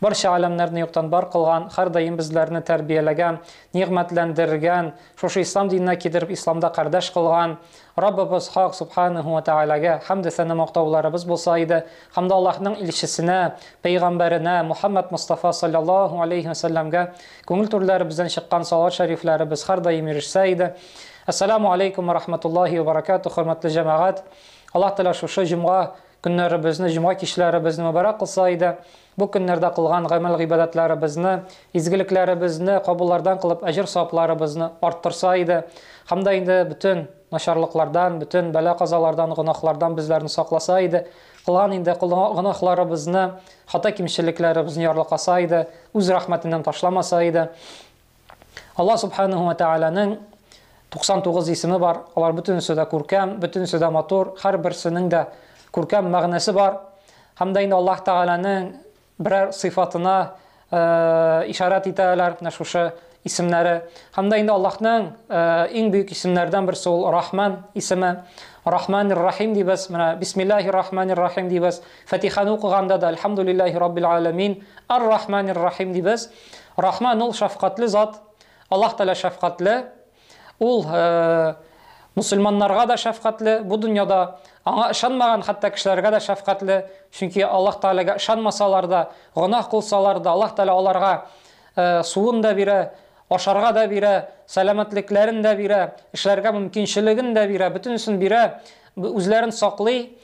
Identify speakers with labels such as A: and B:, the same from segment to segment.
A: Барча галәмнәрне юктан бар кылган, хәрдаим безләрне тәрбияләгән, нигъмәтләндергән, шушы Ислам диненә кидереп Исламда кардәш кылган Раббыбыз Хак Субханаһу ва Тәгаләгә хәмде-сәна мактауларыбыз булса иде, һәм дә Аллаһның Илчесенә, Пәйгамбәренә Мухаммәд Мостафа салләллаһу аләйһи ва сәлләмгә күңел түрләребездән чыккан салават шәрифләребез хәрдаим ирешсә иде. Әссәләмү аләйкүм ва рахмәтуллаһи ва баракәтүһ, хөрмәтле җәмәгать! Аллаһ Тәгалә шушы җомга Көннәребезне, җомга кичләребезне мөбарәк кылса иде. Бу көннәрдә кылган гамәл-гыйбадәтләребезне, изгелекләребезне кабуллардан кылып, әҗер-савапларыбызны арттырса иде һәм дә инде бөтен начарлыклардан, бөтен бәла-казалардан, гөнаһлардан безләрне сакласа иде. Кылган инде гөнаһларыбызны, хата-кимчелекләребезне ярлыкаса иде, үз рәхмәтеннән ташламаса иде. Аллаһ Субханәһү вә Тәгаләнең 99 исеме бар, алар бөтенесе дә күркәм, бөтенесе дә матур, һәрберсенең дә күркәм мәгънәсе бар. Һәм дә инде Аллаһ Тәгаләнең берәр сыйфатына ишарат итәләр менә шушы исемнәре. Һәм дә инде Аллаһның иң бөек исемнәрдән берсе ул Рахман исеме. Рахман рахим дибез. Менә Бисмиллаһир рахманир рахим дибез. Фатиханы укыганда да Альхамдулиллаһи раббил аламин ар-рахманир рахим дибез. Рахман ул шәфкатьле зат, Аллаһ Тәгалә шәфкатьле, Ул мөселманнарга да шәфкатьле, бу дөньяда Аңа ышанмаган хәтта кешеләргә дә шәфкатьле, чөнки Аллаһ Тәгаләгә ышанмасалар да, гөнаһ кылсалар да, Аллаһ Тәгалә аларга суын да бирә, ашарга да бирә, сәламәтлекләрен дә бирә, эшләргә мөмкинчелеген дә бирә, бөтенесен бирә, үзләрен саклый.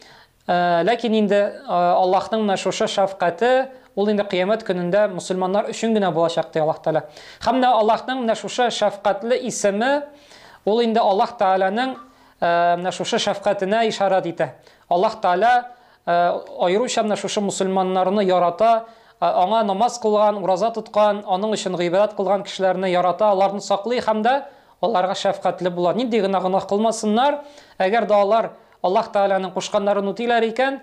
A: Ләкин инде Аллаһның менә шушы шәфкате, ул инде Кыямәт көнендә мөселманнар өчен генә булачак, ди Аллаһ Тәгалә. Һәм менә Аллаһның менә шушы шәфкатьле исеме, ул инде Аллаһ Тәгаләнең менә шушы шәфкатенә ишарәт итә. Аллаһ Тәгалә аеруча менә шушы мөселманнарны ярата, Аңа намаз кылган, ураза тоткан, Аның өчен гыйбадәт кылган кешеләрне ярата, аларны саклый һәм дә аларга шәфкатьле була. Нинди генә гөнаһ кылмасыннар, әгәр дә алар Аллаһ Тәгаләнең кушканнарын үтиләр икән,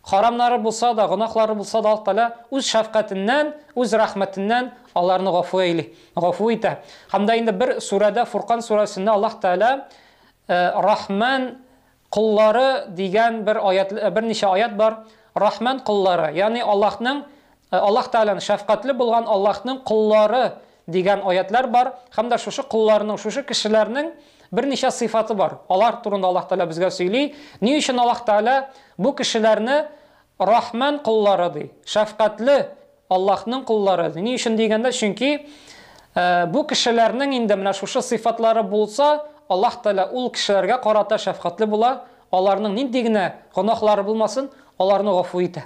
A: харамнары булса да, гөнаһлары булса да, Аллаһ Тәгалә Үз шәфкатеннән, Үз рәхмәтеннән аларны гафу әйли, гафу итә. Һәм дә инде бер сүрәдә, Фуркан сүрәсендә Аллаһ Тәгалә Рахман коллары дигән бер аять, берничә аять бар. Рахман коллары, ягъни Аллаһның Ә Аллаһ Тәгаләнең, Шәфкатьле булган Аллаһның коллары дигән аятьләр бар һәм дә шушы колларның, шушы кешеләрнең берничә сыйфаты бар. Алар турында Аллаһ Тәгалә безгә сөйли. Ни өчен Аллаһ Тәгалә бу кешеләрне Рахман коллары ди, Шәфкатьле Аллаһның коллары ди? Ни өчен дигәндә, чөнки бу кешеләрнең инде менә шушы сыйфатлары булса, Аллаһ Тәгалә ул кешеләргә карата шәфкатьле була, аларның нинди генә гөнаһлары булмасын, аларны гафу итә.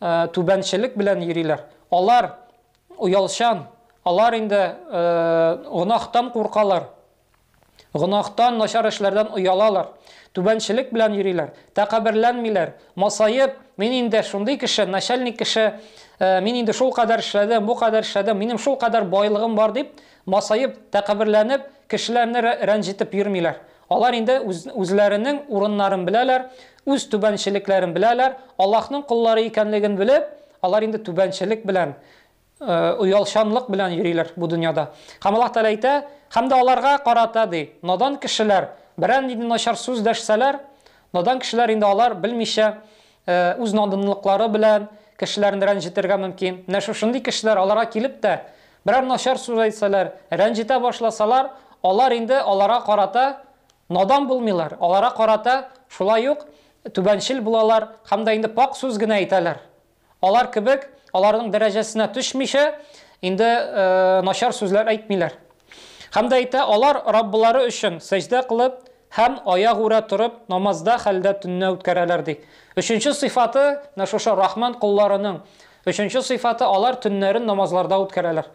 A: түбәнчелек белән йөриләр. Алар оялчан, алар инде гөнаһтан куркалар, гөнаһтан, начар эшләрдән оялалар, түбәнчелек белән йөриләр, тәкәбберләнмиләр, масаеп, мин инде шундый кеше, начальник кеше, мин инде шул кадәр эшләдем, бу кадәр эшләдем, минем шул кадәр байлыгым бар, дип масаеп, тәкәбберләнеп, кешеләрне рәнҗетеп йөрмиләр. Алар инде үз, үзләренең урыннарын беләләр, үз түбәнчелекләрен беләләр, Аллаһның коллары икәнлеген белеп, алар инде түбәнчелек белән, э, оялчанлык белән йөриләр бу дөньяда. Һәм Аллаһ Тәгалә әйтә, Һәм дә аларга карата, ди, надан кешеләр берәр нинди начар сүз дәшсәләр, надан кешеләр инде алар, белмичә, үз надунлыклары белән кешеләрне рәнҗетергә мөмкин. Менә шушындый кешеләр аларга килеп тә, берәр начар сүз әйтсәләр, рәнҗетә башласалар, алар инде аларга карата надан булмыйлар, аларга карата шулай ук түбәнчел булалар һәм дә инде пакь сүз генә әйтәләр. Алар кебек, аларның дәрәҗәсенә төшмичә, инде начар сүзләр әйтмиләр. Һәм дә әйтә, алар Раббылары өчен сәҗдә кылып һәм аягүрә торып намазда хәлдә төнне үткәрәләр, ди. Өченче сыйфаты, менә шушы Рахман колларының өченче сыйфаты, алар төннәрен намазларда үткәрәләр.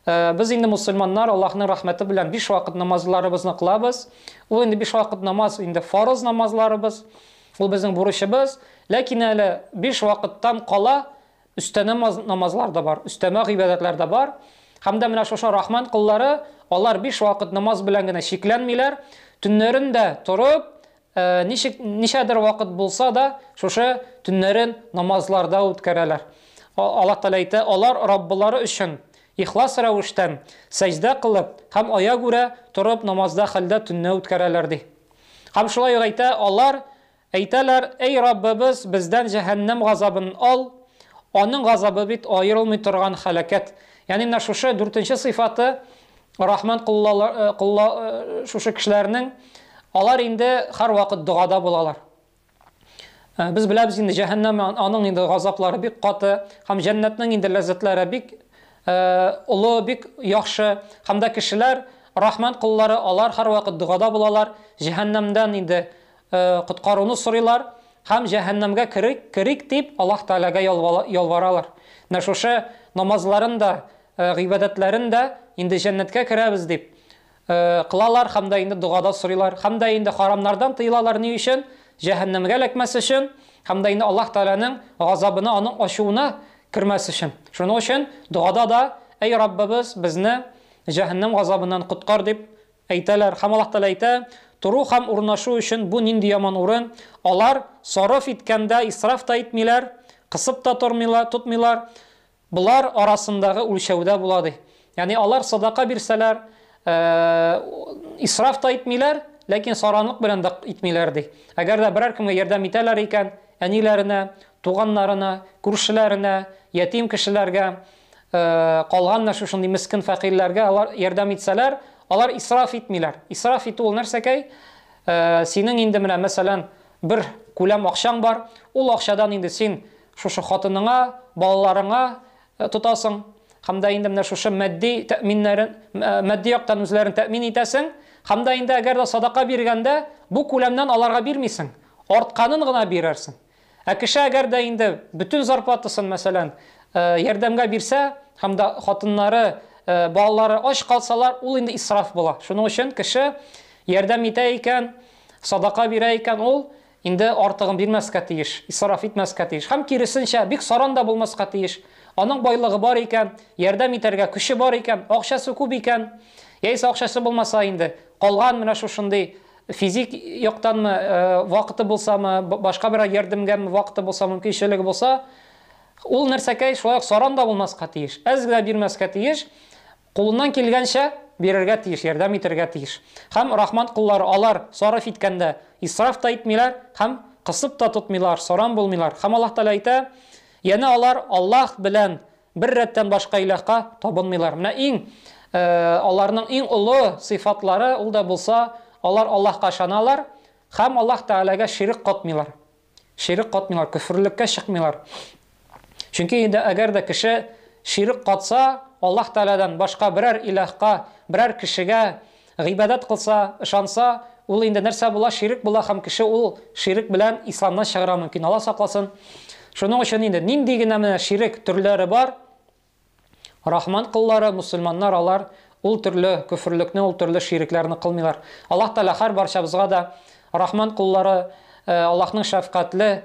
A: Без инде мусульманнар Аллаһның рәхмәте белән биш вакыт намазларыбызны кылабыз. Ул инде биш вакыт намаз инде фарыз намазларыбыз. Ул безнең бурычыбыз. Ләкин әле биш вакыттан кала Өстәмә намазлар да бар, өстәмә гыйбадәтләр дә бар. Һәм дә менә шушы Рахман коллары, алар биш вакыт намаз белән генә чикләнмиләр, төннәрен дә торып, ничек, ничәдер вакыт булса да, шушы төннәрен намазларда үткәрәләр. Аллаһ Тәгалә әйтә, алар Раббылары өчен ихлас рәвештән сәҗдә кылып һәм аягүрә торып намазда хәлдә төнне үткәрәләр, ди. Һәм шулай ук әйтә, алар Әйтәләр, Әй Раббыбыз, бездән җәһәннәм газабын ал, аның газабы бит аерылмый торган һәлакәт. Ягъни менә шушы дүртенче сыйфаты Рахман колла шушы кешеләрнең, алар инде һәрвакыт догада булалар. Без беләбез инде, җәһәннәм аның инде газаплары бик каты һәм җәннәтнең инде ләззәтләре бик олы, бик яхшы. Һәм дә кешеләр, Рахман коллары, алар һәрвакыт догада булалар, җәһәннәмдән инде коткаруны сорыйлар һәм җәһәннәмгә керик, керик дип Аллаһ Тәгаләгә ялваралар. Менә шушы намазларын да, гыйбадәтләрен дә инде җәннәткә керәбез дип кылалар һәм дә инде догада сорыйлар һәм дә инде харамнардан тыелалар ни өчен? Җәһәннәмгә эләкмәс өчен һәм дә инде Аллаһ Тәгаләнең газабына, аның ачуына кермәс өчен. Шуның өчен догада да, Әй Раббыбыз, безне җәһәннәм газабыннан коткар дип Әйтәләр, һәм Аллаһ Тәгалә әйтә, Тору һәм урнашу өчен бу нинди яман урын, алар, сарыф иткәндә, исраф та итмиләр, кысып та тормыйлар, тотмыйлар, болар арасындагы үлчәүдә була, ди. Ягъни алар садака бирсәләр, исраф та итмиләр, ләкин саранлык белән дә итмиләр, ди. Әгәр дә берәр кемгә ярдәм итәләр икән, әниләренә, туганнарына, күршеләренә, ятим кешеләргә, калган менә шушындый мескен фәкыйрьләргә алар ярдәм итсәләр, алар исраф итмиләр. Исраф итү ул нәрсәкәй? Синең инде менә, мәсәлән, бер күләм акчаң бар, ул акчадан инде син шушы хатыныңа, балаларыңа тотасың һәм дә инде менә шушы матди тәэминнәрен, матди яктан үзләрен тәэмин итәсең һәм дә инде әгәр дә садака биргәндә бу күләмнән аларга бирмисең, артканын гына бирерсең. Ә кеше әгәр дә инде бөтен зарплатасын, мәсәлән, ярдәмгә бирсә һәм дә хатыннары, балалары ач калсалар, ул инде исраф була. Шуның өчен кеше ярдәм итә икән, садака бирә икән, ул инде артыгын бирмәскә тиеш, исраф итмәскә тиеш. Һәм киресенчә, бик саран да булмаска тиеш. Аның байлыгы бар икән, ярдәм итәргә көче бар икән, акчасы күп икән, яисә акчасы булмаса инде, калган менә шушындый Физик яктанмы, вакыты булсамы, башка берәр ярдәмгәме вакыты булса, мөмкинчелеге булса, ул нәрсәкәй шулай ук саран да булмаска тиеш, әз генә бирмәскә тиеш, кулыннан килгәнчә бирергә тиеш, ярдәм итәргә тиеш. Һәм Рахман коллары, алар сарыф иткәндә исраф та итмиләр һәм кысып та тотмыйлар, саран булмыйлар. Һәм Аллаһ Тәгалә әйтә, Янә алар Аллаһ белән Бер рәттән башка илаһка табынмыйлар. Менә иң аларның иң олы сыйфатлары ул да булса, алар Аллаһка ышаналар һәм Аллаһ Тәгаләгә ширек катмыйлар. Ширек катмыйлар, көферлеккә чыкмыйлар. Чөнки инде әгәр дә кеше ширек катса, Аллаһ Тәгаләдән башка берәр илаһка, берәр кешегә Гыйбадәт кылса, ышанса, ул инде нәрсә була, ширек була һәм кеше ул ширек белән исламнан чыгарга мөмкин, Алла сакласын. Шуның өчен инде нинди генә менә ширек төрләре бар, Рахман коллары, мөселманнар алар ул төрле көферлекне, ул төрле ширекләрне кылмыйлар. Аллаһ Тәгалә һәр барчабызга да Рахман коллары, Аллаһның шәфкатьле